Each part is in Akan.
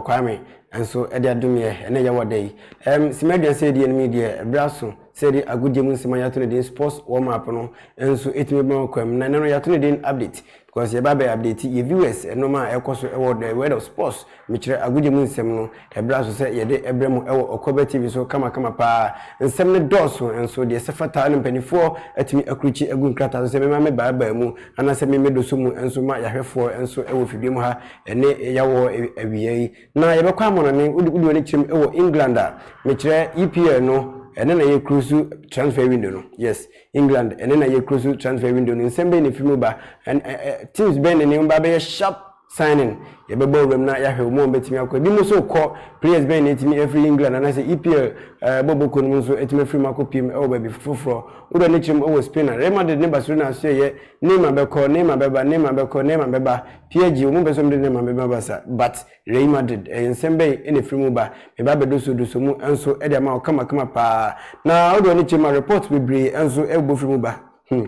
Ɔkwaa me, nanso ɛde adom yɛ, ɛna ɛyɛ wɔ da yi. Ɛɛm, Sima Aduan sɛ yɛdi anim yi deɛ, ɛberɛ aso sɛ yɛde agodie mu nsɛm a yɛato no din Sports Warm Up no nso ɛtumi bɛma wokwam. Na ɛnnɛ no yɛato no din Update because yɛba abɛ update yɛ viewers nnoɔma a ɛrekɔ so wɔ the world of sports, mekyerɛ agodie mu nsɛm no. Ɛbra nso sɛ yɛde brɛ mo wɔ Ɔkwaba TV so kamakama paa. Nsɛm no dɔɔso, nso deɛ ɛsɛ fata ara na mpaninfoɔ atumi akurukyi agu nkrataa so sɛ mema me baa baa mu anaasɛ me me doso mu nso ma yɛahwɛfoɔ nso wɔ fidua mu ha ɛne yawɔ awia yi. Na yɛbɛkɔ amɔnɔne, wode wode w'ani kyerɛm wɔ England a, mekyerɛ EPL no ɛne na yɛ close transfer window no, yes England ɛne na yɛ close transfer window no, nsɛm bɛn na ɛfiri mu ba, teams bɛn na ɛne mu ba bɛyɛ sharp. Signing, Yɛbɛbɔ wuram na yɛahwɛ wɔn a wɔbɛtumi akɔ. Ebinom nso rekɔ. Players bɛn na atumi afiri England anaasɛ EPL bɔbɔkuo no mu nso atumi afiri mu akɔpiem wɔ baabi foforɔ? Wura no kyerɛ mu wɔ Spain a Real Madrid ne Barcelona nso reyɛ. Neymar bɛkɔ, Neymar bɛba, Neymar bɛkɔ, Neymar bɛba. PSG, wɔn pɛ sɛ wɔde Neymar bɛma Barca but Real Madrid. Ɛyɛ nsɛm bɛn na ɛfiri mu ba? Meba abɛdosoo dosoo mu nso de ama wo kamakama paa. Na wode w'ani kyerɛ mu a, reports bebree nso bobɔ firi mu ba. Hmm.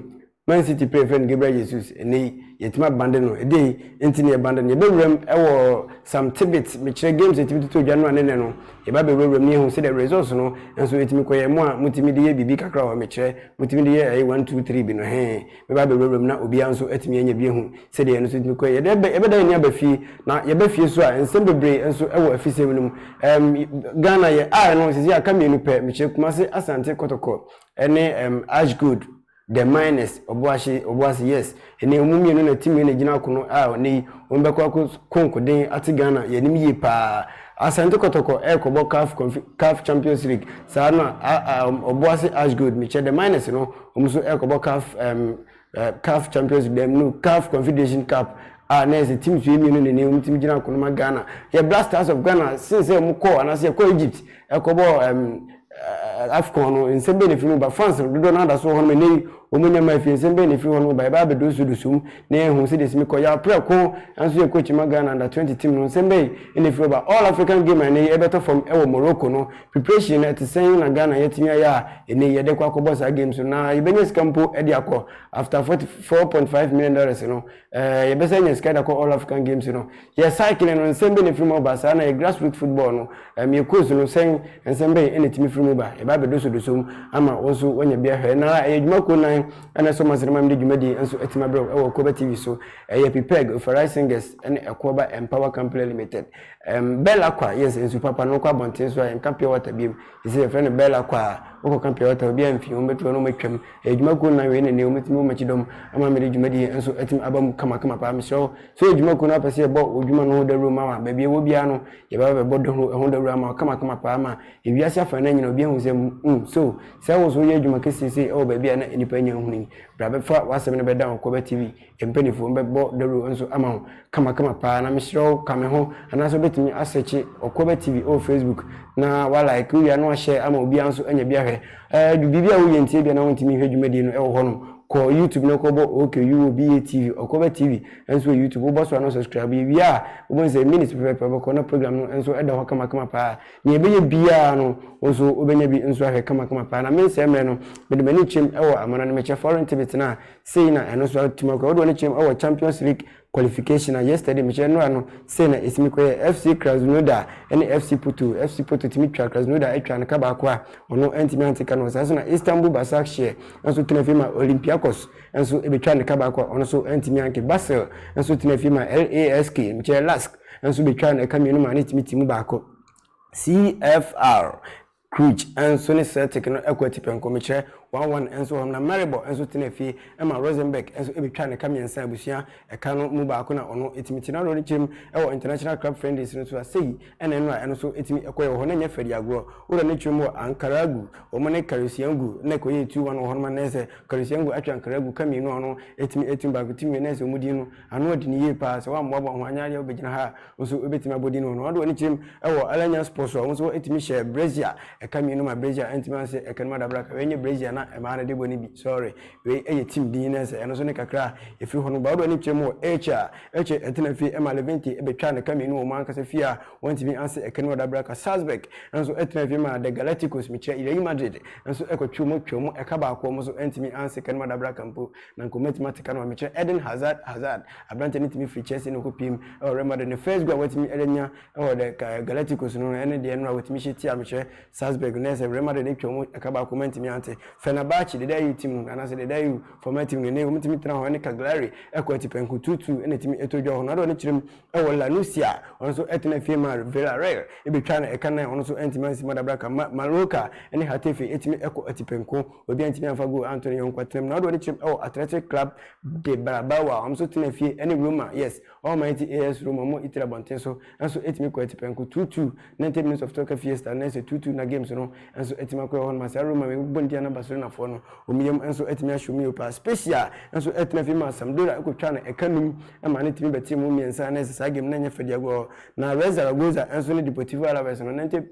Man City panyin frɛ no Gabriel Jesus. Ɛnnɛ yi, yɛatumi abande no. Ɛdee nti na yɛbande no? Yɛbɛwuram wɔ some tidbits. Mekyerɛ games a yɛtumi toto dwa no a ne nnɛ no, yɛba abɛwurawuram na yɛahu sɛdeɛ results no nso ɛtumi kɔ yɛn mu a motumi de yɛ biribi kakra wɔ hɔ. Mekyerɛ, motumi de yɛ ɛyɛ one, two, three bi no. Hee. Mɛba abɛwurawuram na obiara nso atumi anya bi ahu sɛdeɛ ɛno nso tumi kɔ yɛn. Yɛde, yɛbɛda yɛn ani aba fie. Na yɛba fie nso a, nsɛm bebree nso wɔ afisɛm no mu. Ɛɛm, Ghana, yɛn 'I' no, seesei aka mmienu pɛ. Mekyerɛ, Kumasi, Asante, Kotoko, ne ɛɛm, Ashgold. The miners, Obuahye, Obuasi, yes. Ɛnɛ ɔmo mmienu na team no na ɛgyina akono a ɔnɛ yi ɔmo bɛkɔ ako ko nkoden ate Ghana yɛnim yie paa. Asante Kɔtɔkɔ ɛɛkɔbɔ caf conf caf champions league saa na a a Obuasi Ash Gold mekyɛ the miners no ɔmo nso ɛɛkɔbɔ caf ɛɛm ɛ caf champions league no caf confederation cup a na ɛsɛ teams wei mmienu na ɛnɛ ɔmo team gyina akono ma Ghana. Yɛ Blastars of Ghana since sɛ ɔmo kɔɔ anaasɛ yɛkɔɔ Egypt ɛkɔbɔɔ ɛɛm eh, AFCON no, nsɛm bɛn na ɛfiri mu ba? France dodoɔ no ara da so wɔ hɔ nom, ɛnnɛ yi wɔn nya ma afie, nsɛm bɛn na ɛfiri hɔ nom ba? Yɛbɛyɛ abɛdonso dosum na yɛahu sɛdeɛ ɛsi mi kɔ. Yaw Prɛko nso yɛ coach ma Ghana under 20 team no, nsɛm bɛn na ɛfiri hɔ ba? All African game a ɛnnɛ yi ɛbɛtɔ fam wɔ Morocco no, preparation no ɛte sɛn na Ghana yɛatumi ayɛ a ɛnnɛ yi yɛde kɔ akɔbɔ saa games no, na yɛbɛnya sika mpo de akɔ after 44.5 million dollars no, Ɛɛ yɛpɛ sɛ yɛnya sika de akɔ All African Games no, yɛ cycling no, nsɛm bɛn na ɛfiri mu aba? Saa ara na yɛ grassroots football no, ɛɛm yɛ coach no, sɛn nsɛm bɛn na ɛtumi firi mu ba? Yɛba abɛdosɔdosɔ mu ama wo nso woanya bi ahwɛ. Ɛnnɛ ara, ɛyɛ adwuma kuo nnan na ɛsɔ mo ase na ɛma mede dwumadie yi nso atumi abrɛ wo wɔ Koba TV so. Ɛyɛ PPEG, Ofarai Singers ne Ɛkoaba Empower Company Limited. Ɛɛm Bell Aqua, yes, nsu papa no, wokɔ abɔnten so a, yɛnka pure water biom. Seesei yɛfrɛ no Bella Kwa a ɔkɔka Pure Water, obiara mfi, wɔbɛto hɔ na wɔatwam. Ɛyɛ dwumakuo nnan wei na nnɛ wɔatumi abɔ m'akyi dɔm ama mede dwumadie nso atumi aba mu kamakama paa. Mesrɛ wo, sɛ woyɛ dwumakuo na wopɛ sɛ yɛbɔ wo dwuma no ho dawuro ma wo a, baabi a ɛwɔ biara no, yɛbɛba abɛbɔ dɔ ho ɛho dawuro ama wo kamakama paa ma ewiase afanan nyinaa obi ahu sɛ mm, so sɛ wo nso woyɛ adwuma kɛseɛ sei wɔ baabi a na nnipa nnya nhunu yi, bra bɛfa w'asɛm no bɛda Ɔkwaba TV. Mpaninfoɔ no bɛbɔ dawuro nso ama wo kamakama paa na mesrɛ wo ka me ho anaasɛ wobɛtumi asɛkye Ɔkoaba TV wɔ Facebook na wa like wowie a na wa share ama obiara nso anya bi ahwɛ. Ɛɛ du biribi a woyɛ nti ebia na wontumi nhwɛ dwumadie no ɛwɔ hɔnom kɔ YouTube na kɔ bɔ OKUOBA TV, Ɔkoaba TV, nso wɔ YouTube wobɔ so a na wo subscribe yɛ wie a wobɛhu sɛ minutes pɛpɛɛpɛ wobɛkɔ na program no nso ɛda hɔ kamakama paa nea ɛbɛyɛ biara no wo nso wobɛnya bi nso ahwɛ kamakama paa na mensɛe mmerɛ no mede m'ani kyerɛm ɛwɔ amana no mekyɛ foreign tibit no a Sei na ɛno nso atumi akɔ. Wode w'ani kyerɛ mu wɔ Champions League qualification a yesterday mekyerɛ nnora no sei na ɛtumi kɔyɛ FC Krasnodar ne FC Porto. FC Porto tumi twa Krasnodar atwa no ka baako a ɔno antumi ante ka no. Saa nso na Istanbul Basakshir nso tena fie ma Olympiakos nso ɛbɛtwa ne ka baako a ɔno nso antumi anke. Basel nso tena fie ma LASK mekyerɛ Lask nso bɛtwa no ɛka mmienu ma ne tumi ti mu baako. CFR Cluj nso ne Celtic no kɔ atipɛnkɔ, mekyerɛ, one one nso wɔ hɔnom, na Maribor nso tenaa fie ma Rosenberg nso betwaa ne ka mmiɛnsa a abusua ka no mu baako na ɔno tumi te. Na Rooney kyerɛ mu wɔ International Club Friendlies no so a, sei na ɛno a ɛno nso tumi kɔ yɛ wɔ hɔ, na ɛnyɛ fɛdi agorɔ. Wura no kyerɛ mu wɔ Ankaragü, wɔn ne Karyusyangu na ɛkɔyɛɛ two one wɔ hɔnom, na ɛsɛ Karyusyangu atwe Ankaragü ka mmienu a ɔno tumi tumi baako tumi wie, na ɛsɛ wɔn din no. Ano ɔden yie paa, sɛ woammoaboa ho anyɛ adeɛ a wobɛgyina ha a wo nso wobɛtumi abɔ din wɔ no. Ɔde w'ani kyerɛm wɔ Alanya Sports hɔ a wo nso wotumi hyɛ brazier a ɛka mmienu ma brazier a ɛntumi anhyɛ ɛka no mu adabraka. Wei nyɛ brazier a na mmaa no de bɔ no bi, sorry. Wei ɛyɛ team din na ɛsɛ ɛno nso ne kakra a ɛfiri hɔ no ba. Ɔde w'ani kyerɛm wɔ Elche a Elche ɛtena fie ɛma Levante ɛbɛtwaa no ɛka mmienu wɔ wɔn ankasa fie a wɔntumi anhyɛ ɛka no mu adabraka. Salzburg nso ɛtena fie ma The Galácticos, mekyerɛ Real Madrid nso ɛkɔtwee wɔn twaa mu ɛka baako a wɔn nso ɛntumi anhyɛ ɛka no mu adabraka mpo. Na anka wɔatumi ate ka no ma mekyerɛ Eden Hazard Hazard, aberanteɛ no tumi firi Chelsea na ɔkɔpiim wɔ Real Madrid. Ne first goal a watumi anya wɔ the Galacticos no, ɛne deɛ no a wɔtumi hyɛ tia mekyerɛ Salzburg no, ɛsɛ Real Madrid atwa wɔn ɛka baako ma ntumi ante Fenerbahce, deda EU team no, anaasɛ deda EU former team no, ɛnɛ yi wɔtumi tena hɔ ne Cagliari ɛkɔ atipɛnko two two na ɛtumi ɛtɔ dwa wɔ hɔ no, ade a ɔno kyerɛ mu wɔ La Nucia, ɔno nso ɛtena fie ma Villarreal ɛbɛtwaa no ɛka nan, ɔno nso antumi ansi mu adabraka ma Mallorca ne Getafe ɛtumi ɛkɔ atipɛnko. Obi antumi amfa goal anto ne yɔnko atenam na ɔde wɔn kyerɛm ɛwɔ Athletic Club de Brabao a wɔn nso tena fie ɛne Roma yes Almighty AS Roma wɔn Italy abɔnten so nso ɛtumi kɔ atipɛnko two two 90 minutes of Torque Fiesta na ɛsɛ two two na games no nso ɛtumi akɔ ɛhɔ noma saa Roma wɔn bɔndia na Barcelona foɔ no wɔn yam nso ɛtumi ahyɛ wɔn yio paa Spezia nso ɛtena fie maa Sampdoria ɛkɔ twaa no ɛka num ɛmaa no tumi bɛtee wɔn mmiɛnsa na ɛsɛ saa game no ɛnyɛ fɛ deɛ agorɔ na Real Zaragoza nso ne Deportivo Alaves no 90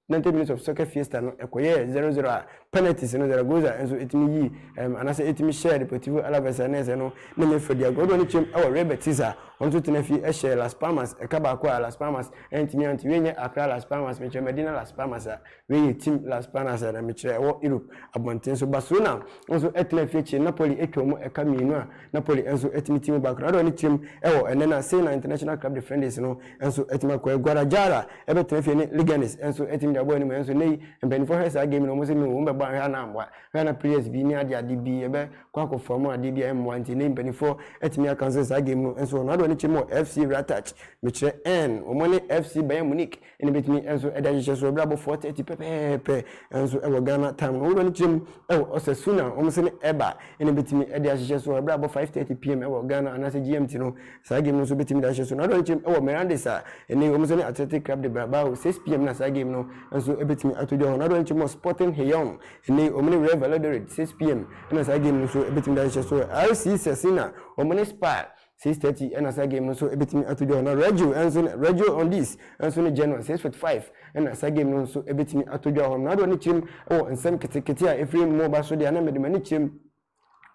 Ninety minutes of soccer fiesta no ɛkɔyɛɛ zero zero a penalties no Zaragoza nso ɛtumi yii ɛɛm anaasɛ ɛtumi hyɛɛ Deportivo Alaves a na ɛsɛ no ne ne fa di agorɔ de wɔn atwam wɔ Real Betis a wɔn nso tena fi hyɛɛ Las Palmas ɛka baako a Las Palmas antumi anto wei nyɛ Accra Las Palmas mekyerɛ Medina Las Palmas a wei yɛ Tim Las Palmas a na mekyerɛ ɛwɔ Europe abɔnten so Barcelona nso ɛtena fi akyire Napoli atwa wɔn ɛka mmienu a Napoli nso atumi ti mu ba Ecuador ne tirim wɔ ɛnnɛ na Sena International Club de Friendlies no nso atumi akɔ ɛ. Guadalajara bɛtena fie ne Leganes nso atumi de abɔ anim nanso nnɛ yi mpaninfoɔ hwɛ saa game no wɔn se me wɔn bɛbɔ a hwɛ a na ammoa hwɛ a na players bi ne ade ade bi ɛbɛ kɔ akɔ form adeɛ bi a ɛmmoa nti nnɛ yi mpaninfoɔ atumi a cancel saa game no nso Ecuador ne tirim wɔ FC Ratach mekyerɛ ɛn wɔn ne FC Bayern Munich Ɛno bɛtumi nso de ahyehyɛ so ɛberɛ abɔ 4:30 pɛpɛɛpɛ nso wɔ Ghana time no wobɛno kyerɛ mu wɔ ɔsɛ su na wɔn se no ɛba ɛna bɛtumi de ahyehyɛ so ɛberɛ abɔ 5:30 pm wɔ Ghana anaasɛ GMT no saa game no nso bɛtumi de ahyehyɛ so na wobɛno kyerɛ mu wɔ Mirandes a ɛne wɔn se no Athletic Club de Brabao 6 pm na saa game no nso bɛtumi ato dwa hɔ na wobɛno kyerɛ mu wɔ Sporting Heon ɛne wɔn ne Real Valladolid 6 pm ɛna saa game no nso bɛtumi de ahyehyɛ so RC Sasina wɔn ne Spar six thirty ɛna saa game no nso ebetumi ato dwa na radio nso radio on this nso ne general six forty five ɛna saa game no nso ebetumi ato dwa hɔ na adeɛ ne kyerɛm ɛwɔ nsɛm ketekete a efiri mu ba so deɛ na mɛde mɛ ne kyerɛm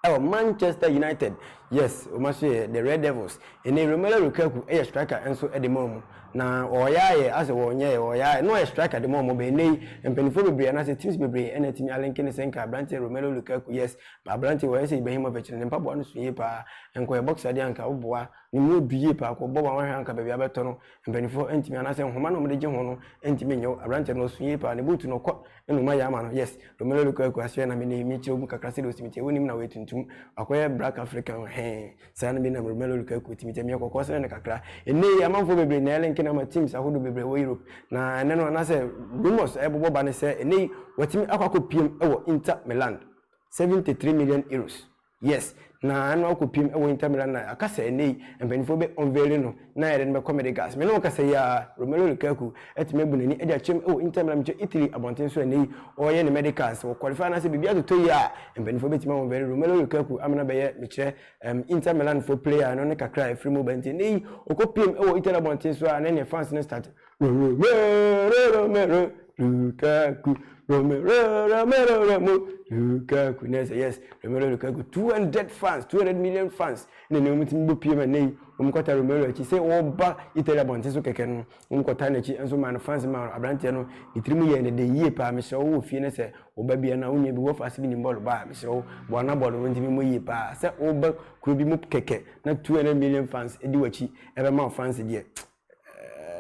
ɛwɔ manchester united yes wɔn aso yɛ the red devils ɛnna romelu lukaku ɛyɛ striker nso ɛde ma wɔn na wɔyɛ ayɛ asɛ wɔnyɛ yɛ wɔyɛ ayɛ na wɔyɛ striker de ma wɔn bɛn ne yi mpanyinfoɔ bebree anaasɛ teams bebree ɛna ɛtumi alenke ne sɛ nka aberanteɛ romelu lukaku yes But aberanteɛ wei ayɛ sɛ Ibrahimovic no, ne mpaboa no so yie paa. Nkɔyɛ boxer deɛ anka woboa no mu ɔdu yie paa. Kɔbɔ one one hwɛ anka baabi abɛtɔ no mpaninfoɔ antumi anaasɛ nhoma no a wɔde gye ho no ntumi nyɛ wo. Aberanteɛ no ɔso yie paa. Ne boot no ɔkɔ na ɔma yɛ ama no. Yes, Romelu Lukaku asoɛ na me nnɛ yi mekyerɛ mu kakra sɛdeɛ ɔsi me teɛ. Wonim na ɔyɛ tuntum. Wakɔyɛ black African no hɛn. Saa no bi na Romelu Lukaku te me teɛ. Meyɛ kɔkɔɔ sene no kakra. Nnɛ yi amanfoɔ bebree na ɛlink no ama teams ahodoɔ bebree wɔ Europe. Na ɛnnɛ no anaasɛ rumours a ɛbobɔ ba ne sɛ nnɛ yi watumi akɔ akɔpiem wɔ Inter Milan. 73 million euros yes na ɛno akɔ pim ɛwɔ Inter Milan na aka sɛ ɛnɛ yi mpanyinfoɔ bɛ unveil no na yɛde no bɛkɔ mede gas me ne wo kasa yi ara Romelu Lukaku atumi abu n'ani ɛde akyɛm ɛwɔ Inter Milan mekyɛ Italy abɔnten so ɛnɛ yi ɔreyɛ ne medicals sɛ wɔ qualify anaasɛ biribi atotɔ yi a mpanyinfoɔ bɛtumi unveil Romelu Lukaku amena bɛyɛ mekyerɛ um, Inter Milan fo player no ne kakra a ɛfiri mu ba nti ɛnɛ yi ɔkɔ pim ɛwɔ Italy abɔnten so a na ɛneɛ fans no start Lukaku, Romelu Lukaku, Lukaku, na ɛsɛ yes, Romelu Lukaku, 200 fans, 200 million fans, na ɛnna wɔn ti bɔ pie ma nɛyi, wɔn kɔta Romelu akyi, sɛ ɔba Italy abɔnten so kɛkɛ no, wɔn kɔta n'akyi, nso maa no fans maa no, aberanteɛ no, ne tirim yɛ ne de yie paa, mesrɛ wo wɔ fie no sɛ ɔba bia na onua bi wɔfa ase bi nim bɔɔl baa, mesrɛ wo boa na bɔɔl no nti mmɔ yie paa, sɛ ɔba kuro bi mu kɛkɛ, na 200 million fans di w'akyi, ɛbɛma wo fans deɛ,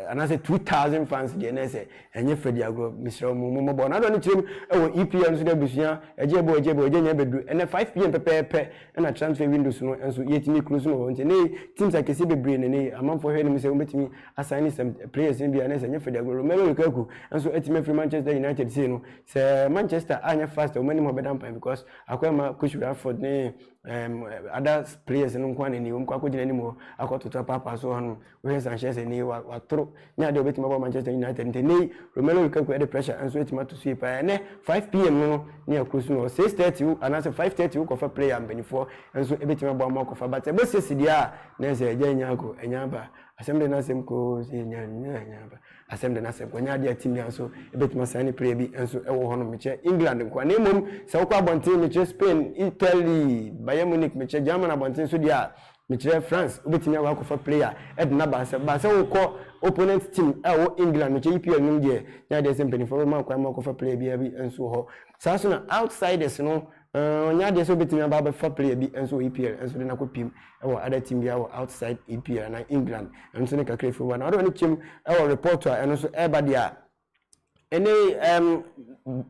anaasɛ 2000 fans deɛ na ɛsɛ ɛnyɛ fɛ di agorɔ mesrɛ mo mo mɔbɔ n'adɔ ne kyerɛ mu ɛwɔ EPL nso dɛ abusua ɛgye ɛbɔ ɛgye ɛbɔ ɛgye nyɛ bɛduru ɛnɛ 5 pm pɛpɛɛpɛ ɛna transfer windows no nso yɛtumi close no wɔ nti ne teams akɛseɛ bebree na ne amanfoɔ hwɛ no mu sɛ wɔbɛtumi assign ne some players no bi a na ɛsɛ ɛnyɛ fɛ di agorɔ Romelu Lukaku nso atumi afiri Manchester United sei no sɛ Manchester anyɛ fast wɔn anim hɔ bɛda mpan because akɔɛma Coach Rashford ne um, ada players no nko anani wɔn kɔ akɔgyina anim hɔ akɔtoto apaapa so hɔnom wohwɛ Sanchez ani watoro nyɛ adeɛ obɛtumi abɔ Manchester United nti ɛnɛ Romelu Lukaku ɛde pressure nso ɛtumi ato so yi paa ɛnɛ 5 pm no no ne akuro so no 6:30 wo anaasɛ 5:30 wo kɔfa player mpanimfoɔ nso ɛbɛtumi abɔ ama ɔkɔfa but ɛbɔ sɛ sideɛ a na ɛsɛ ɛgya ɛnya akɔ ɛnya aba asɛm de no asɛm koo sɛ ɛnya ɛnya aba Asɛm de na sɛ wanya adeɛ atimi a nso ɛbɛtumi asan ne pira bi nso wɔ hɔ nom. Mekyɛ England nkoa na mmom sɛ wokɔ abɔnten mekyerɛ Spain, Italy, Bayern Munich, mekyɛ German abɔnten nso deɛ a mekyerɛ France wobɛtumi akɔ akɔfa player de no aba sɛ ba sɛ wokɔ opponent team a ɛwɔ England mekyɛ EPL nom deɛ nyɛ adeɛ sɛ mpaninfoɔ bɛma wo kwan ma wokɔfa player biara bi nso wɔ hɔ. Saa nso na outsiders no Ɛɛ, ɔnyɛ adeɛ sɛ ɔbɛtumi aba abɛfa player bi nso wɔ EPL nso de no akɔ pim wɔ other team biara wɔ outside EPL anaa England. Ɛno nso ne kakra ɛfiri hɔ. Na ɔde ɔno kyɛm wɔ report a ɛno nso ɛreba deɛ a, ɛnɛ yi ɛɛm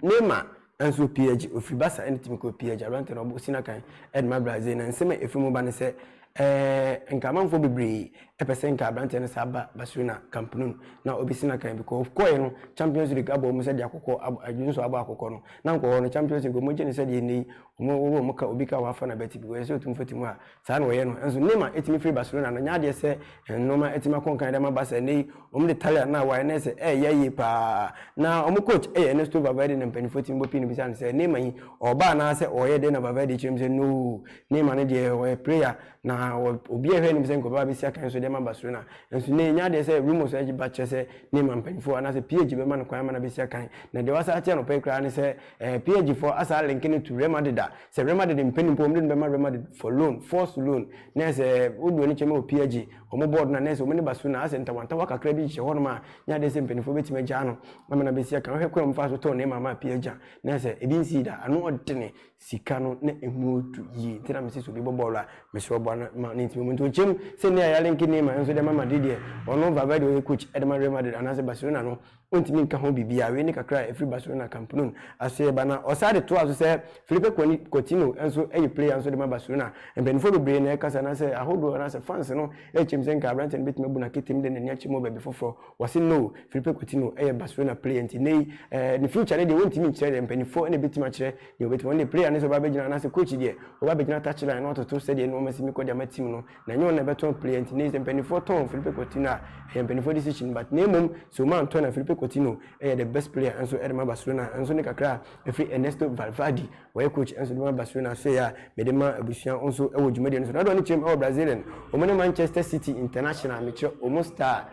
Neymar nso wɔ PSG, ɔfiri Barca ɛna tumi kɔɔ PSG. Aberanteɛ no ɔbɔ si n'akan de ma Brazil. Na nsɛm a ɛfiri mu ba ne sɛ, Ɛɛ, nka amanfoɔ bebree pɛ sɛ nka aberanteɛ no saa ba Barcelona, Camp Nou, na ɔbɛsi no akan bi. Ɔkɔeɛ no, Champions League abɔ wɔn sɛdeɛ akokɔ abɔ, adwene nso abɔ akokɔ no. Na anka ɔhɔ no, Champions League, wɔgye no sɛdeɛ nnɛ yi wɔn, wɔwɔ wɔn ka, obi ka wɔn afa no abati bi, wɔyɛ sɛ ɔtu mfati mu a, saa na wɔyɛ no. Nanso Neymar tumi firi Barcelona no, ɛnyɛ adeɛ sɛ nnoɔma atumi akɔ nkan de ama Barca. Nnɛ yi, wɔde Thalia no a wae no ayɛ sɛ ɛreyɛ yie pa ara. Na wɔn coach yɛ Ernesto Valverde na mpanimfoɔ tumi bɔ pii no bisa no sɛ, Neymar yi, ɔreba anaasɛ ɔreyɛ dɛn? Na Valverde kyerɛ mu sɛ, No! Ne mane deɛ ɔyɛ prayer na obiaa hwɛ anim sɛ nkurɔfoɔ bɛba bɛsi akan so de ama Barcelona nso nnɛ yɛnya adeɛ sɛ rumours ba kyerɛ sɛ Neymar mpaninfoɔ anaasɛ PSG bɛma no kwan ama no abɛsi akan na deɛ wɔasan ate anɔpa yi koraa ne sɛ eh, PSG foɔ asan linke no to Real Madrid a sɛ Real Madrid mpɛ no mpo wɔn de no bɛma Real Madrid for loan forced loan na sɛ wode w'ani kyɛ ma wɔ PSG wɔn board no a na sɛ wɔn ne Barcelona asɛ ntawantawa kakra bi hyehyɛ hɔnom a nya adeɛ sɛ mpaninfoɔ bɛtumi agyaa no ama no abɛsi akan wohwɛ kwan a wɔmfa so tɔɔ Neymar maa PSG a na sɛ ebi nsii da ano ɔdene sika no na emu retu yie nti na mese sɛ obi bɔ bɔɔlo a mesɛ ɔboa no ma ne ntumi mu nti ɔkyɛm sɛ nnɛ a yɛalenke Neymar nso de ma Madrid deɛ ɔno Valverde ɔyɛ coach de ma Real Madrid anaasɛ Barcelona no ɔntumi nka ho biribiara wei ne kakra a ɛfiri Barcelona Camp Nou aso yɛba na ɔsaa de toa so sɛ Filipe Coutinho nso yɛ player nso de ma Barcelona mpanimfoɔ bebree na ɛkasa anaasɛ ahodoɔ anaasɛ fans no ɛkyɛm sɛ nka aberanteɛ no bɛtumi abu no aketem de n'ani akyɛ mu wɔ baabi foforɔ Wɔse no, Filipe Coutinho yɛ Barcelona player nti nnɛ yi ɛɛ ne future no deɛ wɔntumi nkyerɛ deɛ mpaninfoɔ na ɛbɛtumi akyerɛ deɛ wɔbɛtumi wɔn deɛ player no sɛ ɔba abɛgyina anaasɛ coach deɛ ɔba abɛgyina touch line na watoto sɛdeɛ nnoɔma si mekɔ de ama team no na ɛnyɛ wɔn na ɛbɛtɔn player nti nnɛ yi sɛ mpaninfoɔ tɔn Filipe Coutinho a ɛyɛ mpaninfoɔ decision but na mmom sɛ wɔn antɔ na Filipe Coutinho yɛ the best player nso de ma Barcelona nso ne kakra a ɛfiri Ernesto Valverde Wɔyɛ coach nso de ma Barcelona so yɛ a mede ma abusua nso wɔ dwumadie no so. Nadɔn ne kyerɛ mu wɔ Brazilian. Wɔn ne Manchester City International mekyerɛ wɔn star.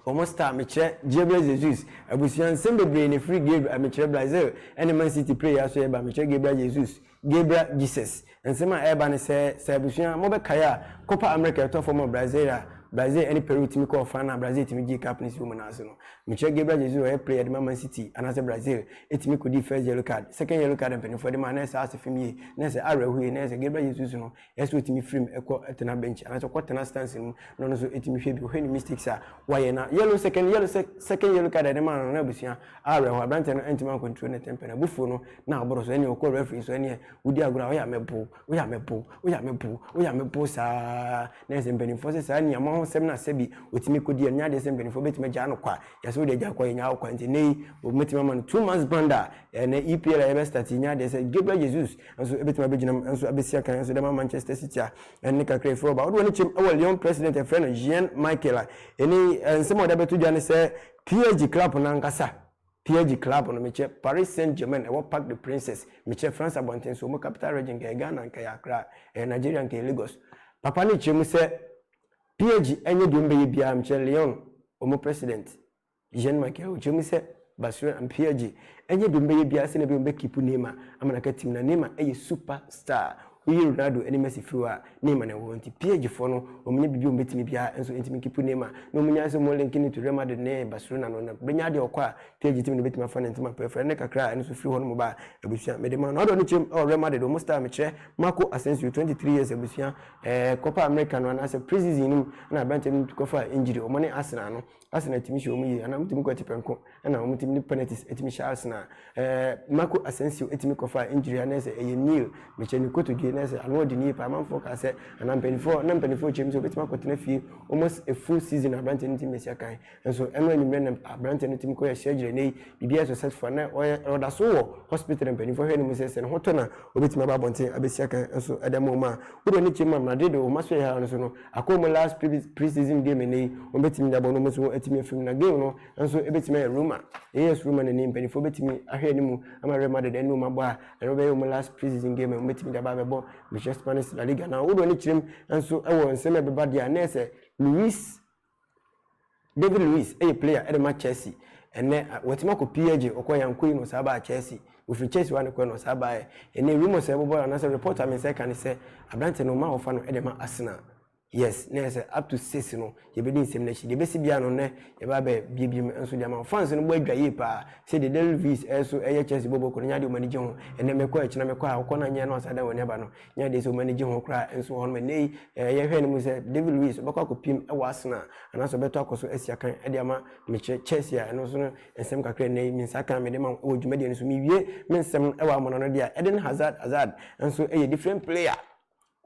wɔn star mekyerɛ Gabriel Jesus abusua nsɛm bebree na efiri Gabriel mekyerɛ Brazil ɛne Man City prayer so yɛ ba mekyerɛ Gabriel Jesus Gabriel Jesus, Nsɛm a ɛreba ne sɛ, sɛ abusua, mobɛkae a, Copa America a ɛtɔ fam wɔ Brazil a Brazil ɛne Peru tumi kɔɔ final a Brazil tumi gyee cup no si wɔ mu no ase no. Mekyerɛ Gabriel Jesus a ɔyɛ player de ma Man City anaasɛ Brazil tumi kɔdii first yellow card, second yellow card a mpanyinfoɔ de ma a na ɛsɛ ase fam yie, na ɛsɛ awerɛhoyie, na ɛsɛ Gabriel Jesus no Ɛsɛ sɛ ɔtumi firi mu kɔ tena bench anaasɛ ɔkɔ tena stands no mu na ɔno nso ɛtumi hwɛ bi ɔhwɛ ne mistakes a wayɛ na yellow second yellow second yellow card a ɛde maa no no abusua awerɛhoɔ aberanteɛ no antumi ancontrol ne temper no abufuo no na aboro so ɛneɛ ɔkɔ referee so ɛneɛ wodi agorɔ a woyɛ amɛbo woyɛ amɛbo woyɛ amɛbo woyɛ amɛbo saa na ɛsɛ mpanimfoɔ sɛ saa nneɛma ho sɛm no asɛ bi ɔtumi kɔdi ɛno nyɛ adeɛ sɛ mpanimfoɔ bɛtumi agyaa no kwa yɛsɛ wode agya kwa yɛnya wo kwa nti ne yi wɔbɛtumi ama no two months band a ɛnɛ EPL a yɛbɛstart nyɛ adeɛ sɛ Gabriel Jesus nso ebetumi abegyina mu nso abesi akan nso de ama Manchester City a ɛnne kakra efiri hɔ ba. Wɔde wɔn ani kyem wɔ Lyon president a yɛfrɛ no Jean Michel a ɛne nsɛm a wɔde abɛto dwa ne sɛ PSG club no ankasa PSG club no mekyɛ Paris Saint-Germain ɛwɔ Parc des Princes mekyɛ France abɔnten so wɔn capital region nka ɛyɛ Ghana nka ɛyɛ Accra ɛyɛ Nigeria nka ɛyɛ Lagos papa no kyerɛ mu sɛ PSG ɛnyɛ deɛ wɔbɛyɛ biara mekyɛ Lyon wɔn president Jean Michael ɔkyerɛ mu sɛ, Basura Ampia gye ɛnyɛ deɛ ɔmbɛyɛ biara sɛ na bia ɔmbɛkipu Neymar ama no aka team no a, Neymar ɛyɛ super star, woyi Ronaldo ne Messi firi hɔ a, Neymar na ɛwɔ hɔ nti PSG foɔ no ɔmnyɛ biribi a ɔmbɛtumi biara nso ntumi nkipu Neymar na ɔmnyae sɛ ɔmo link no to Real Madrid ne Barcelona no na bɛnya adeɛ ɔkɔ a PSG team no bɛtumi afa no ntɛm apereferɛ no ne kakra a ɛno nso firi hɔnom ba a abusua mede ma no ɔdɔ ne kyɛm ɛwɔ Real Madrid ɔmo star mekyerɛ Marco Asensio 23 years abusua ɛɛ Copa America no anaasɛ pre-season no mu na aberanteɛ no tu kɔfaa injury ɔmo ne Arsenal no Arsenal tumi hyɛ wɔn yie anaa wɔtumi kɔ atipɛnko ɛna wɔn tumi de penalties ɛtumi hyɛ Arsenal ɛɛ Marco Asensio ɛtumi kɔ fa injury anaa sɛ ɛyɛ Neil mekyɛ ne kotodwe na sɛ ano ɔde ne yie paa amanfoɔ kaa sɛ anaa mpanimfoɔ na mpanimfoɔ kyerɛ mu sɛ obetumi akɔtena fie almost a full season na aberanteɛ no tumi bɛsi akan nso ɛno anwummerɛ na aberanteɛ no tumi kɔ yɛ surgery na yi biribiara successful na ɔyɛ ɔda so wɔ hospital na mpanimfoɔ hwɛ ne mu sɛ sɛ ne ho tɔ na obetumi aba abɔnten abɛsi akan nso ɛda mu ma wode ne kyɛ mu a Madrid wɔn aso yɛ ha no so no Akɔ mu last pre-season game ɛnnɛ yi, wɔbɛtumi de abɔ no, wɔn nso wɔatumi afiri mu, na game no nso ɛbɛtumi ayɛ Roma, AS Roma na ne mpanimfoɔ bɛtumi ahwɛ anim ama Real Madrid ɛne wɔn abɔ a, ɛno bɛyɛ wɔn last pre-season game a wɔbɛtumi de aba abɛbɔ Mehyɛ Spanish La Liga, na wodoɔ ne kyerɛm nso wɔ nsɛm a ɛbɛba deɛ a na ɛyɛ sɛ Luis David Luiz yɛ player de ma Chelsea ɛnnɛ, watumi akɔ PLG, ɔkɔɔ yɛ ankɔ yi na ɔsan baa Chelsea, ɔfiri Chelsea hɔ a na ɛkɔɛ na ɔsan baeɛ. Ɛnnɛ rumours a ɛbobɔ anaasɛ report a me nsa ɛka ne sɛ aberanteɛ no wɔma wɔfa no de ma Arsenal. Yes, na ɛyɛ sɛ up to six no yɛbɛdi nsɛm no akyi. Deɛ ɛbɛsi biara no nnɛ yɛbɛ abɛ bie bie mu nso de ama wo. Fans no bɔ adwa yie paa sɛ deɛ David Luiz ɛso ɛyɛ Chelsea bɔbɔ kɔ no nyɛ adeɛ a wɔn ani gye ho. Ɛnnɛ mekɔ ha, ɛkyena mekɔ ha, wokɔ na nyɛ na wɔsan dan wɔn ani aba no, Nyɛ adeɛ sɛ wɔn ani gye ho koraa nso wɔ hɔnom. Ɛnnɛ yi, eh, yɛhwɛ no mu sɛ David Luiz ɔbɛkɔ akɔpim wɔ Arsenal anaasɛ ɔbɛtɔ akɔ so asi akan de ama mekyerɛ Chelsea a ɛno nso no nsɛm kakra nnɛ yi me nsa kan mede ma wɔ dwumadie no so. Mewie me nsɛm no wɔ amona no deɛ a, Eden Hazard Hazard nso yɛ different player.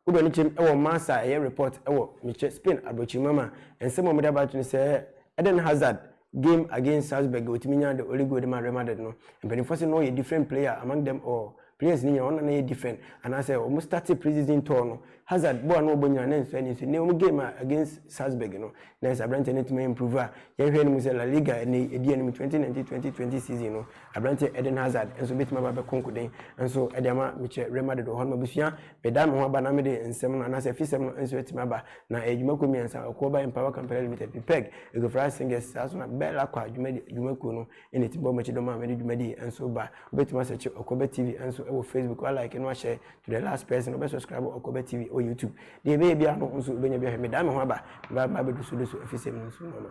Wode w'ani kyerɛm wɔ Marca a ɛyɛ report wɔ mekyerɛ Spain aborɔkyiri mu ama nsɛm a wɔde abato no sɛ Eden Hazard Game against Salzburg a otumi nyaa de early goal de maa Real Madrid no, mpanyimfoɔ se na ɔyɛ different player among them all. Players no nyinaa wɔn na na ɛyɛ different anaasɛ wɔn startee pre-season tour no, Hazard bɔ a na ɔbɔ nyinaa na ɛnsɔ ani so. Nnɛ wɔn game a against Salzburg no, na ayɛ sɛ aberanteɛ no atumi a improve a yɛhwɛ no mu sɛ La Liga a nnɛ yi edi anim 2019-2020 season no, aberanteɛ Eden Hazard nso betumi aba abɛko nkoden nso de ama mekyerɛ Real Madrid wɔ hɔ no. M'abusua, medan me ho aba na mede nsɛm no anaasɛ afisɛm no nso atumi aba. na ɛyɛ dwumakuo mmiɛnsa, Ɔkuoba Empower Kampala Limited, PPEG, Eguafra Singers, saa nso na Bell Aqua dwumakuo no na ɛtumi bɔ wɔn akyi dɔm a wɔde dwumadie nso ba. Wobɛtumi asɛkye Ɔkuoba TV nso wɔ Facebook, woalike na wahyɛ to the last person, wobɛsubscribe Ɔkuoba TV wɔ YouTube. Deɛ ɛbɛyɛ biara no nso wobɛnya bi ahwɛ. Medan me ho aba, meba meba abɛdusudusu afisɛm no nso mu ama.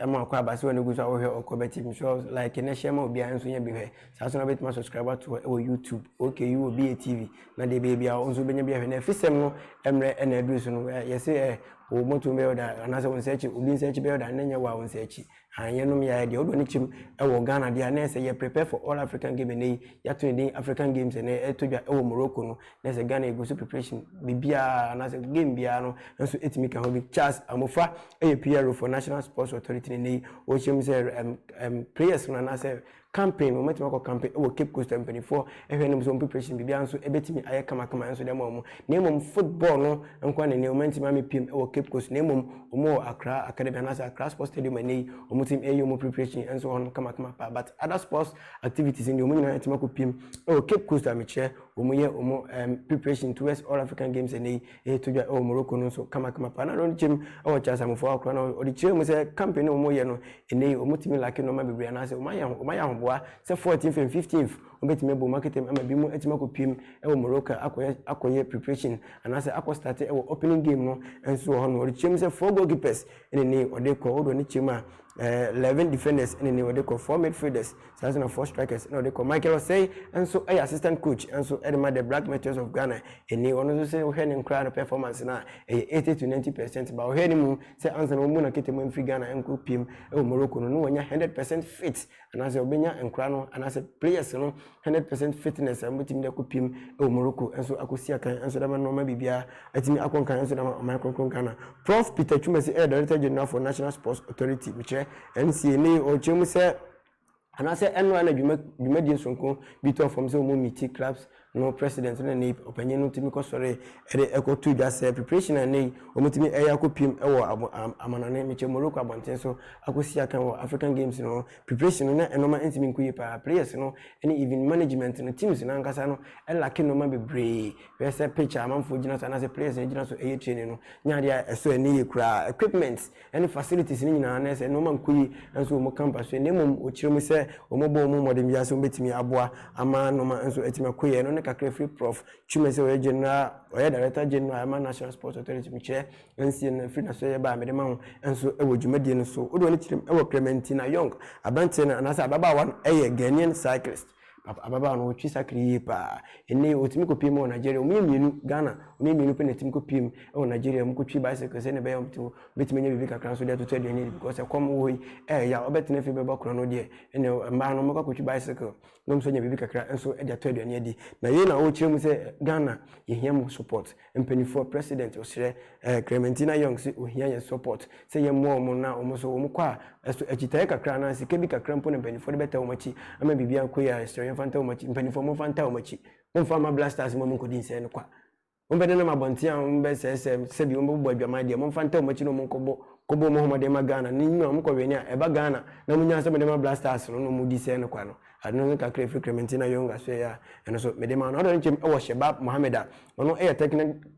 Ɛma ɔkɔ aba sɛ w'ani gu so a wohwɛ ɔkɔ bɛ tv nso like na hyɛ ma obiara nso nyɛ bi hwɛ saa so na wobɛtumi asubscribe ato hɔ wɔ youtube okay wɔ BA TV na deɛ ɛbɛyɛ biara wo nso wobɛnya bi ahwɛ na afisɛm no mmerɛ ɛna aduru so no eh, yɛse eh, wo moto bɛyɛ ɔda anaasɛ wo nsɛkyi obi nsɛkyi bɛyɛ ɔda na nyɛ wo a wo nsɛkyi han yɛnom yɛayɛ deɛ wodɔ ne kyim wɔ Ghana deɛ a na ɛsɛ yɛ prepare for all African game ɛnɛ yi yɛato ne din African games ɛnɛ ɛtɔ dwa wɔ Morocco no na sɛ Ghana egu so preparation biribiara anaasɛ game biara no nso etumi ka ho bi. Charles Amofa yɛ PRO for National Sports Authority ne nnɛ yi ɔrehyɛ mu sɛ ɛm ɛm players no anaasɛ campaign wɔn atumi akɔ campaign wɔ Cape Coast mpanimfoɔ ɛhwɛ no mu sɛ wɔn preparation biribiara nso ɛbɛtumi ayɛ kamakama nso dɛm wɔn na mmom football no nko ara na nnɛ wɔn ntumi amepiem wɔ Cape Coast na mmom wɔn wɔ Accra Academy anaasɛ Accra Sports Stadium nnɛ yi wɔn tumi ɛyɛ wɔn preparation nso hɔ no kamakama paa but other sports activities ndeɛ wɔn nyinaa atumi akɔ piem wɔ Cape Coast a mekyerɛ Wɔyɛ wɔn ɛɛm preparation towards All African Games ɛnnɛ yi ɛreto dwa ɛwɔ Morocco no nso kamakama paa. Na ɛno no kyɛm ɛwɔ Charles Amofoa Akorah no ɔde kyerɛɛ mu sɛ campaign no a wɔyɛ no ɛnnɛ yi wɔtumi lacke nnoɔma bebree anaasɛ wɔn ayɛ wɔn ayɛ ahoboa sɛ fourteenth and fifteenth wɔbɛtumi abɔ wɔn akatam ama binom atumi akɔ piem ɛwɔ Morocco akɔyɛ akɔyɛ preparation anaasɛ akɔ starte ɛwɔ opening game no nso wɔ hɔ nom. Ɔde kyerɛɛ mu sɛ four goalkeepers ɛna ɛnnɛ yi wɔde kɔ wodeɛ ɔde kyerɛɛ mu a ɛɛ eleven defenders ɛna ɛnnɛ yi wɔde kɔ four midfielders Saa nso na four strikers na ɔde kɔ. Michael Osei nso yɛ assistant coach nso de ma the Black Meteors of Ghana. Ɛnni ɔno nso sɛ wohwɛ ne nkoraa no performance no a, ɛyɛ eighty to ninety percent. Ba ɔhwɛ no mu sɛ ansa na wɔmmu no aketeman mfiri Ghana nkɔ piem wɔ Morocco no, na wanya hundred percent fit anaasɛ ɔbɛnya nkoraa no anaasɛ players no hundred percent fitness a wɔbɛtumi de akɔ piem wɔ Morocco nso akɔsi akan nso de ama no ama biribiara atumi akɔ nkan nso de ama ɔman kronkron Ghana. Prof. Peter Twumasi yɛ Director General for National Sports Authority, mekyerɛ, NCA, ne ɔkyerɛ mu sɛ, Anaasɛ ɛno a na dwuma dwumadie sononko bi tɔ fam sɛ wɔn miti clubs no president ne ne ɔpanyin no tumi kɔsɔre de ɛkɔ to dwa sɛ preparation a ɛnɛ yi wɔtumi ɛyɛ akɔ piem ɛwɔ abo amanɔne mekyɛ Morocco abɔnten so akɔsi akan wɔ African games no preparation no na nnoɔma ntumi nkɔ yie paa players no ne even management no teams no ankasa no ɛlake nnoɔma bebree hwɛ sɛ pitch a amanfoɔ gyina so anaasɛ players no gyina so ɛyɛ training no nyɛ adeɛ a ɛsɔ ani yie koraa equipments ɛne facilities no nyinaa na ɛsɛ nnoɔma nkɔ yie nso wɔn ka mpa so yɛ na mmom wɔkyerɛ mu sɛ wɔn bɔ wɔn mmɔden biara sɛ wɔn bɛtumi aboa ama nnoɔma nso atumi akɔ yie ɛno ne kakra firi prɔf twuma sɛ ɔyɛ general ɔyɛ director general ɛma national sports authority mekyerɛ nsie no firi naso yɛ baa mede ma ho nso ɛwɔ dwumadie no so wode wɔn kyerɛ mu ɛwɔ kremantina young aberanteɛ no anaasɛ ababaawa no ɛyɛ ghanaian cyclist Papa ababaawa no ɔtwe sakre yie paa. Ɛnnɛ yi ɔtumi kɔpie mu wɔ Nigeria. Wɔyɛ mmienu, Ghana, wɔyɛ mmienu pɛ na ɛtumi kɔpie mu wɔ Nigeria. Wɔkɔtwi bicycle sɛdeɛ ɛbɛyɛ a wɔbɛtumi anya biribi kakra nso de atoto aduane adi because ɛkɔm wɔ hɔ yi ɛyɛ yaw. Wobɛtena fie bɛbɔ korɔ no deɛ ɛnna mmaa no wɔbɛkɔ akɔtwi bicycle na wɔn nso anya biribi kakra nso de atɔ aduane adi. Na yei na ɔrekyerɛ mu sɛ Ghana yɛhia mo support. Mpaninfoɔ president ɔsrɛ eh Clementina Young sɛ ɔhia yɛn support sɛ yɛn mmoa wɔn na wɔn nso wɔn kɔ a ɛso akyitaeɛ kakra anaa sika bi kakra mpo na mpaninfoɔ de bɛtaa wɔn akyi ama biribi akɔ yie a yɛsrɛ yɛn fa ntaa wɔn akyi mpaninfoɔ mo nfa ntaa wɔn akyi mo nfa mma black stars mma wɔn nkɔdi nsɛe no kwa wɔn bɛ nenam abɔnten a wɔn bɛ sɛɛsɛ sɛbi wɔn bɛ bobɔ adwaman deɛ mo nfa ntaa wɔn akyi na wɔn nkɔbɔ kɔbɔ wɔn homɔden ma Ghana ne nyina wɔn kɔ wɛne a ɛba Ghana na mo nya nsɛm mo de ma black stars no na wɔn di sɛɛ no kwa no Ade no ne kakra a ɛfiri Clementina Young asoɛeɛ a ɛno nso mede maa no. Ɔdɔ no nkyem wɔ Shebab Mohammed a ɔno yɛ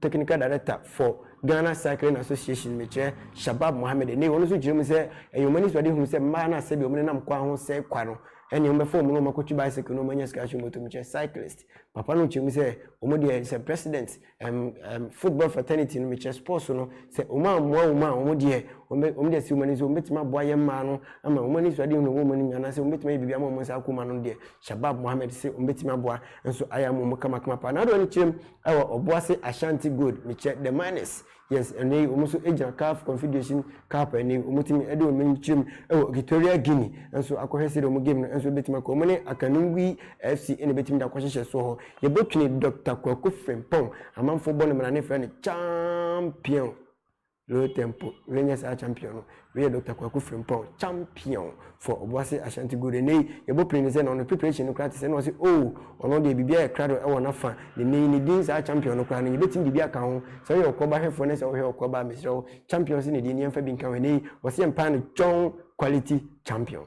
Technical Director for Ghana Cycling Association, mekyerɛ, Shabab Mohammed nnɛ yi, ɔno nso kyerɛ mu sɛ ɛyɛ wɔn anisoadehunu sɛ mmaa no a sɛdeɛ wɔnenam kwan ho sɛe kwa no, ɛnneɛ wɔbɛfa wɔn na wɔakɔtu bicycle na wɔanya sika nso mmɔtom, mekyerɛ, cyclist. Papa no kyerɛ mu sɛ wɔn deɛ sɛ President, um, um, football fraternity no mekyerɛ sports no sɛ wɔn a mmoa wɔn a wɔn deɛ wɔn deɛ si wɔn ani so wɔn bɛtumi aboa yɛn mmaa no ama wɔn ani so adeɛ wɔn wɔn anim anaasɛ wɔn bɛtumi ayɛ biribi ama wɔn nsa akoma no deɛ shabab mohammed sɛ wɔn bɛtumi aboa nso ayɛ ama wɔn kamakama paa na adeɛ wɔn kyerɛ mu ɛwɔ ɔboase ashanti gold mekyerɛ the miners Yes, ɛnnɛ yi wɔn nso gyina CAF Confederation Cup ɛnnɛ yi wɔtumi de wɔn ani kyerɛ mu wɔ Equatorial Guinea nso akɔhwɛ sɛdeɛ wɔn game no nso bɛtumi akɔ. Wɔn ne Akanungui FC na ɛbɛtumi de akɔhyehyɛ soɔ hɔ. Yɛbɛtwene Dɔkta Kwaku Frimpong, amanfoɔ bɔ no mmara ne frɛ no Champion. Low tempo, wei nyɛ saa Champion no. Wei yɛ Doctor Kwaku Frimpong, champion for Obuasi Ashanti Gold. Ɛnnɛ yi, yɛbɔ pire no sɛ na ɔno preparation no koraa te sɛ na ɔse oh, ɔno deɛ biribiara yɛ krado wɔ n'afa. Na ɛnnɛ yi, ne din saa champion no koraa no, yɛbɛtumi de bi aka ho. Sɛ woyɛ ɔko aba hwɛfoɔ na sɛ wohwɛ ɔko aba a, mesrɛ wo, champions ne din no yɛmfa bi nka ho. Ɛnnɛ yi, wɔse yɛmpaa no John Quality Champion.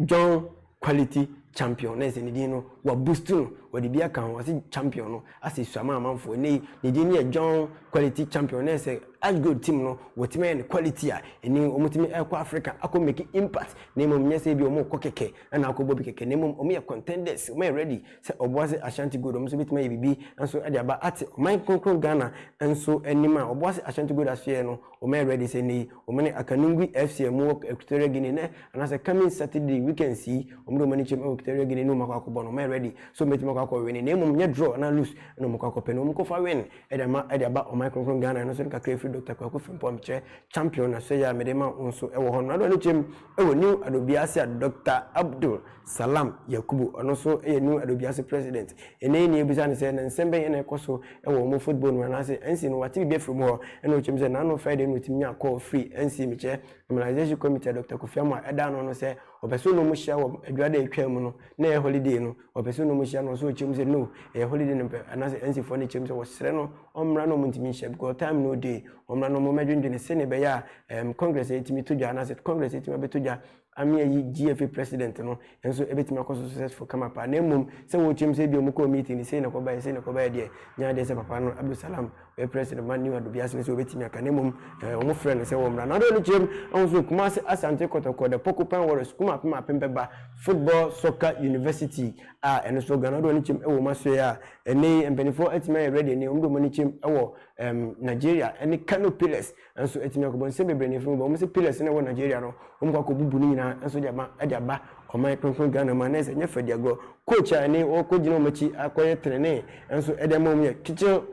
John Quality Champion na ɛsɛ ne din no wɔabustu no wɔde bi aka ho wɔse champion no asɛ sua ma amanfoɔ ɛnɛ yi ne din no yɛ John Quality Champion na ɛsɛ Ash Gold team no wɔtumi ayɛ no quality a ɛni wɔtumi ɛkɔ Africa akɔ make impact na mmom nyɛ sɛ bi wɔkɔ kɛkɛ ɛna akɔbɔ bi kɛkɛ na mmom wɔyɛ contenders wɔyɛ ready sɛ ɔboa sɛ Ashanti Gold wɔn nso bɛtumi ayɛ biribi nso ɛde aba ate ɔman kronkron Ghana nso anim a ɔboa sɛ Ashanti Gold asoɛ no Wɔyɛ ready sɛ nnɛ yi wɔne Akanungui FC a wɔwɔ Equatorial Guinea nnɛ anaasɛ coming Saturday weekends yi wɔde wɔn ani kyerɛ mu wɔ Equatorial Guinea ne wɔn akɔ akɔbɔ no. Wɔyɛ ready sɛ wɔbɛtumi akɔ akɔ win na mmom nyɛ draw anaa lose na wɔkɔ akɔpɛ no. Wɔkɔfa win de ama de aba ɔman kronkron Ghana. Ɛno nso no kakra firi Doctor Kwaku Frimpong a mekyerɛ champion na so yɛ a mede ma wo nso wɔ hɔ no. Ade w'ani kyerɛ mu wɔ New Adobia ase a Doctor Abdul Salam Yakubu, ɔno nso yɛ New Adobiase president. Yɛn anim nea yɛbisa no sɛ, na nsɛm bɛn na ɛkɔ so wɔ wɔn football no mu anaasɛ NC no wate biribi afiri wɔn hɔ? Ɛna ɔkyerɛ mu sɛ, N'ano Friday no wɔtumi nyaa call firi NC mekyɛ Normalization Committee a Doctor Kofi Amoah da ano no sɛ wɔpɛ sɛ ɔne wɔn hyia wɔ Adwada a ɛtwaa mu no, na ɛyɛ holiday no, wɔpɛ sɛ ɔne wɔn hyia na ɔnso ɔkyerɛ mu sɛ no, ɛyɛ holiday na ɔmpɛ anaasɛ NC foɔ no kyerɛ mu sɛ wɔsrɛ no ɔmmra na wɔntumi nhyia because time no day, wɔmmra na wɔmmɛdwendwene sɛdeɛ ɛbɛyɛ a ɛɛm Congress atumi to dwa anaasɛ Congress atumi abɛto dwa Ame ayi GFA president no nso ɛbɛtumi akɔ so successful kama paa na mmom sɛ wɔrekyem sɛ ebia wɔkɔɔ meeting no sei na ɛkɔbaeɛ sei na ɛkɔbaeɛ deɛ nyɛ adeɛ sɛ papa no Abdul Salam ɔyɛ president ma New Adobiase no sɛ ɔbɛtumi aka na mmom ɛɛ wɔfrɛ no sɛ wɔmmra na ɔde ne kyerɛm ahun so Kumasi Asante Kɔtɔkɔ the Porcupine Warriors Kuma Apem Apem Bɛba Football Soccer University a ɛno nso Ghana ɔde wɔn ani kyerɛm wɔ wɔn asoɛeɛ a ɛnnɛ yi mpanimfoɔ atumi ayɛ ready ɛnnɛ yi wɔde wɔn ani kyerɛm wɔ ɛɛm Nigeria ne Kano Pillars Nso etumi akɔbɔ nsɛm bebree na efiri mu ba. Wɔn sɛ pillars na ɛwɔ Nigeria no, wɔn kɔ akɔbubu ne nyinaa nso de aba de aba ɔman kronkron Ghana mu a na ɛsɛ ɛnyɛ fɛ di agorɔ. Coach a ɛne wɔkɔgyina wɔn akyi akɔyɛ trenee nso ɛde ama wɔn yɛ Kitchell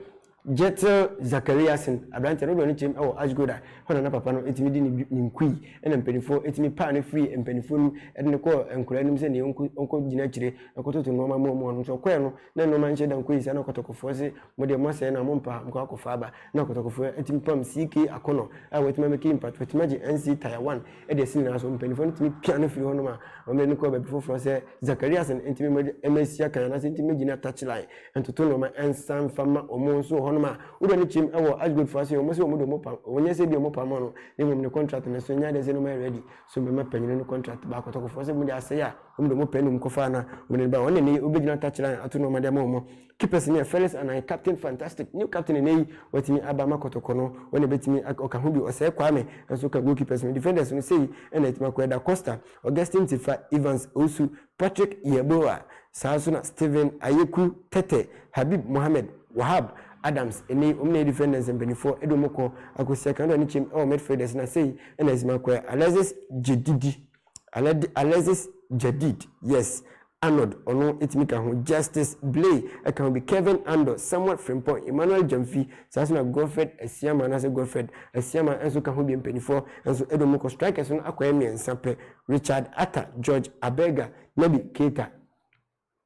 Jettel Zakariasen, aberanteɛ no, ɔdɔ ne kyɛm wɔ Ashgold a ɛhɔ na na papa no tumi di ne nkui na mpanimfoɔ tumi paa no firii mpanimfoɔ no mu de no kɔɔ nkwadaa no mu sɛ nea ɔnkɔgyina akyire nkɔtoto nnoɔma ma wɔn no nso ɔkɔɛ no na nnoɔma nhyɛ da nkɔyɛ saa na kɔtɔkɔfoɔ se mo deɛ moasɛe no a mompaa mokɔ akɔfa aba na akotakofo atumi pam CK akɔnnɔ a wɔatumi abɛka yi mpirato atumi agye NC Tier 1 de asi nyinaa so. Mpanyimfo no tumi pia no firi hɔnom a wɔde no kɔ baabi foforɔ sɛ Zakariasen ntumi mmɔ de mma asi akan anaasɛ ntumi mmɛgyina touchline ntoto nnoɔma nsa mfa mma wɔn nso wɔ hɔnom a wodɔ ne kyɛm wɔ Ashgold fo ase wɔn sɛ wɔn de wɔn pam wɔn nyɛ sɛ bi wɔn pam no na mmom ne contract no so nyɛ adeɛ sɛ no mayɛ ready so mbɛma panyin no contract ba akotakofoɔ sɛ wɔn de asɛe a wɔn de wɔn pɛ nom kɔfaa na wɔn de ba wɔn na ne wɔbɛgyina touchline ato nnoɔma de ama wɔn Keepers ne Felix Anan, captain fantastic, new captain ɛnɛ yi, watumi aba ama Kɔtɔkɔ no, wɔn na ɛbɛtumi ak, ɔka ho bi, Ɔsɛɛ Kwame nso ka goalkeepers no, defenders no sei na ɛtumi akɔ, Da Costa, Augustine Tifa, Evans Owusu, Patrick Yeboah, saa nso na Steven Ayeku, Tete, Habib Mohammed, Wahab, Adams, ɛnɛ yi wɔn na ɛyɛ defenders mpanimfoɔ, ɛde wɔn kɔ akɔsi Akandor ne Kyem wɔ midfielders na sei na ɛtumi akɔ, Alexis Gyedidi. Alexis Jadid, Yes, Arnold, ɔno ɛtumi ka ho, Justice Blay ɛka ho bi, Kevin Andor, Samuel Frimpong, Emmanuel Gyamfi, saa nso na Godfred Asiamah anaasɛ Godfred Asiamah nso ka ho bi, mpaninfoɔ nso ɛdɔ mu kɔ, strikers no akɔyɛ mmiɛnsa pɛ, Richard Attah, George Abega, Naby Keita.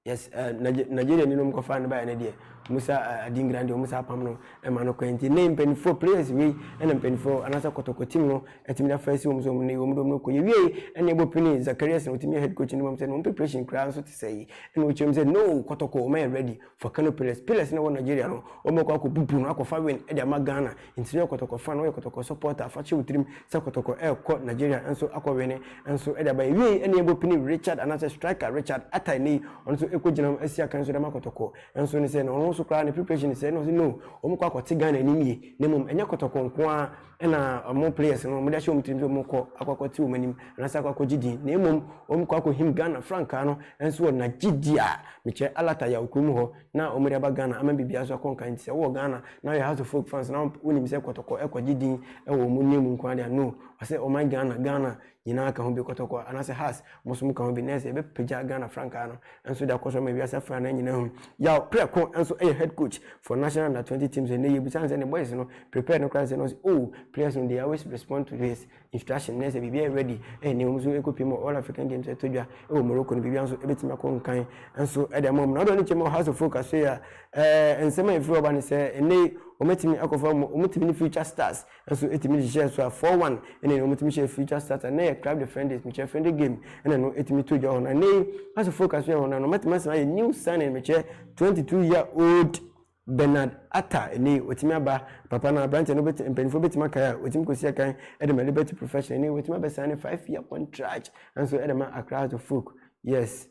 Yes eh, Nigeria ni nom kɔfa no baeɛ no deɛ ɔmo sa eh, adingra deɛ ɔmo sa apam no ɛma no kwan nti ne mpanimfoɔ players wei ɛna mpanimfoɔ anaasɛ kɔtɔkɔ team no ɛtumi na fɛsi wɔn so wɔn ne wɔn dɔm no kɔ yɛwie ɛna ɛbɔ pini Zacharias na ɔtumi head coach no mu sɛ no preparation koraa nso te sɛ yi ɛna ɔkyerɛ mu sɛ no kɔtɔkɔ wɔn yɛ ready for Kano Pillars Pillars na wɔ Nigeria no wɔn kɔ akɔ bubu no akɔfa win ɛde ama Ghana Nti no yɛ kɔtɔkɔ fan woyɛ kɔtɔkɔ supporter fa hyɛ wo tirim sɛ kɔtɔkɔ ɛkɔ Nigeria nso akɔ wene nso de aba ɛwiei ɛne yɛbɔ pini Richard anaasɛ striker Richard Attah ɛnɛ yi ɔno nso ɛkɔ gyina mu asi akan nso de ama kɔtɔkɔ nso ne sɛ na ɔno nso koraa ne preparation ne sɛ na ɔse no wɔn kɔ akɔte Ghana anim yie na mmom ɛnyɛ kɔtɔkɔ nko ara ɛna wɔn players no wɔn de ahyɛ wɔn tirim sɛ wɔn kɔ akɔ akɔte wɔn anim anaasɛ akɔ akɔgye din na mmom wɔn kɔ akɔhim Ghana frankaa no nso wɔ nagyedi a mekyerɛ Alata Yaw kurom hɔ na wɔn de aba Ghana ama biribiara so akɔ nkan nti sɛ wowɔ Ghana na woyɛ House of Folk fans na wonim sɛ kɔtɔkɔ ɛkɔgye din ɛwɔ wɔn nne mu nko adeɛ no ɔsɛ ɔman Ghana Ghana nyinaa ka ho bi kɔtɔkɔ anaasɛ has mo so mo ka ho bi na ɛsɛ yɛbɛpagya Ghana frankaa no nso de akɔ so ama wiase afra na nyinaa hu yaw prɛko nso ɛyɛ head coach for national under 20 teams ɛnɛ yɛbisa no sɛ ne boys no prepared no koraa sɛ no ɔsɛ oh players no they always respond to his instruction na ɛsɛ biribi ayɛ ready ɛyɛ nea wɔn nso ɛkɔpie mu all african games ɛtɔ dwa ɛwɔ morocco no biribi nso ɛbɛtumi akɔ nkan nso ɛde ama mu na ɔdɔ ne kyɛ mu house of folk aso yi a ɛɛ nsɛm a ɛfiri ɔba ne sɛ ɛnɛ yi wɔatumi akɔfa wɔn wɔtumi ne future stars nso ɛtumi hyehyɛ so a four one ɛna ɛna wɔtumi hyɛ future stars ɛna yɛ club the friend days mekyɛ friend game ɛna no ɛtumi to dwa hɔ na ɛnɛ yi house of folk aso yɛ hɔ na no matumi asɛm ayɛ new signing mekyɛ twenty two year old Bernard Atta ɛnɛ yi watumi aba papa no aberanteɛ no bɛtumi mpanimfoɔ bɛtumi akae a watumi kɔsi akan de ma Liberty Professional ɛnɛ yi watumi abɛsan ne five year contract nso de ma Accra House of Folk yes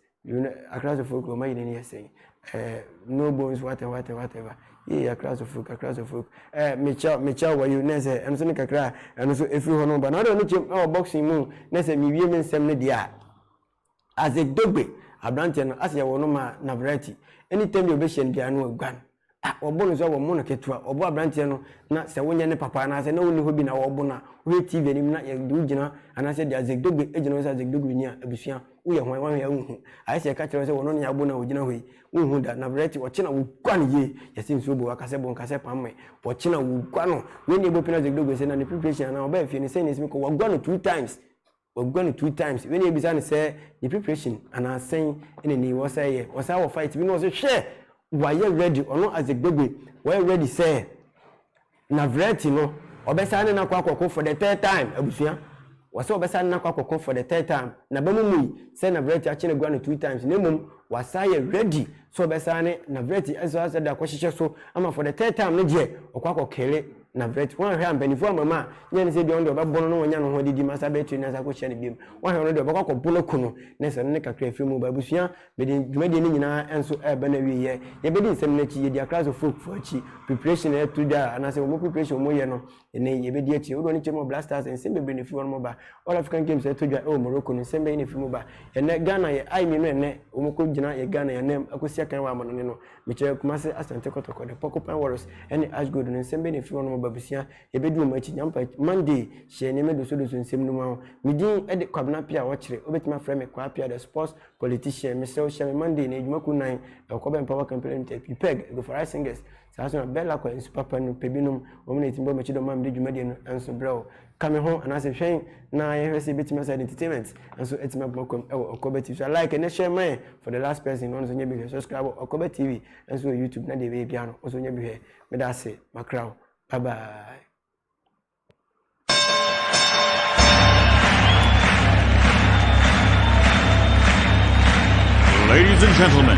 Accra House of Folk wɔn ayi n'ani yɛ sɛn ɛɛ no bones whatever whatever whatever yee Accra House of Folk Accra House of Folk ɛɛ mekyɛw mekyɛw wayo na sɛ ɛno nso ne kakra a ɛno nso efiri hɔ no ba na ɔde ɔno kyɛm ɛwɔ boxing mu na sɛ mewie me nsɛm no deɛ a. Azegdogbe abranteɛ no ase yɛ wɔ no ma Navrati any time bi a ɔbɛhyia no biara no aguan ah wɔbo no nso a wɔmo no ketewa wɔbo abranteɛ no na sɛ wonyɛ ne papa anaasɛ na wonni hɔ bi na wɔbo no a wohwɛ TV anim na yɛde wo gyina anaasɛ yɛde Azegdogbe gyina hɔ sɛ Azegdogbe ni a abusua woyɛ hwan woahwɛ a wonhu ayɛ sɛ yɛka kyerɛ wo sɛ wɔno ne abo no a ɔgyina hɔ yi wonhu da Navrati ɔkye na woguan yie yɛse nsuo bo waka sɛ bo nka sɛ pamme ɔkye na woguan no wei ne ɛbɔ pini Azegdogbe sɛ na ne preparation anaa ɔbaa fie no sɛn na ɛsi me kɔ waguan no two times Wɔaguan no two times wei na yɛbisa no sɛ ne preparation anaa sɛn na ni wɔ sɛ yɛ wɔ saa wɔ fight bi na ɔsɛ hwɛ wayɛ ready ɔno as a gbegbe wayɛ ready sɛ Navrati no ɔbɛsan ne no akɔ akɔko for the third time abusua wɔsɛ ɔbɛsan ne no akɔ akɔko for the third time naba mu mui sɛ Navrati akye no aguan no two times na mmom wasan yɛ ready sɛ ɔbɛsan ne Navrati ɛsɛ ɔsɛ de akɔhyehyɛ so ama for the third time no deɛ ɔkɔ akɔkere Na vet wanhwɛ a mpanyinfoɔ ama ma nyɛ ne sɛ bia ɔno deɛ ɔbɛbɔ no na wanya no ho adidi ma saa bɛyɛ tiri na saa kɔhyia no biam wanhwɛ ɔno deɛ ɔbɛkɔ akɔbo no ko no na sɛ no ne kakra afiri mu ba abusua mede dwumadie no nyinaa nso ɛreba no awieɛ yɛbɛdi nsɛm no akyi yɛdi akra so folk fo akyi preparation ɛyɛ to da anaasɛ wɔn preparation wɔn yɛ no ɛnɛ yɛbɛdi akyi wodoɔ no kyɛ mu blasters nsɛm bebree na ɛfiri wɔn ba all african games ɛto dwa ɛwɔ morocco no nsɛm bɛyɛ na ɛfiri mu ba ɛnɛ ghana yɛ ai mmienu ɛnɛ wɔn kɔ gyina yɛ ghana yɛ anam akɔsi akan wɔ amanɔne no Mekyerɛ Kumasi, Asante Kotoko, The Porcupine Warriors ɛne Ash Gold no nsɛm bɛ na ɛfiri hɔnom aba abusua a yɛbɛdi wɔn akyi Nyampa akyi Monday hyɛ nneɛma dosodoso nsɛm no mu aho Me din de Kwabena Appiah Ɔkyere wobɛtumi afrɛ me Kwaa Appiah the sports politician Mesrɛ wo hyia me Monday na adwuma kuo nan ɛwɔ Kɔbɛ Mpaboa Company Limited P Peg, Egofarai Singers, saa nso na Bella Kwa Nsu Papa no pɛ binom wɔn na ɛtumi bɔ m'akyi dɛ wɔn a mede dwumadie no nso brɛ wo. Ka me ho anaasɛ hwɛn na yɛhwɛ sɛ ebetumi asa entertainment nso atumi abɔ m'akwam wɔ Ɔkɔbɛ TV so. A like na share ma yɛn for the last person na ɔno nso nyɛ bi hwɛ. Subscribe wɔ Ɔkɔbɛ TV nso wɔ YouTube na deɛ ɛbɛyɛ biara no nso nyɛ bi hwɛ. Meda ase makra wo. Bye bye. Ladies and gentlemen.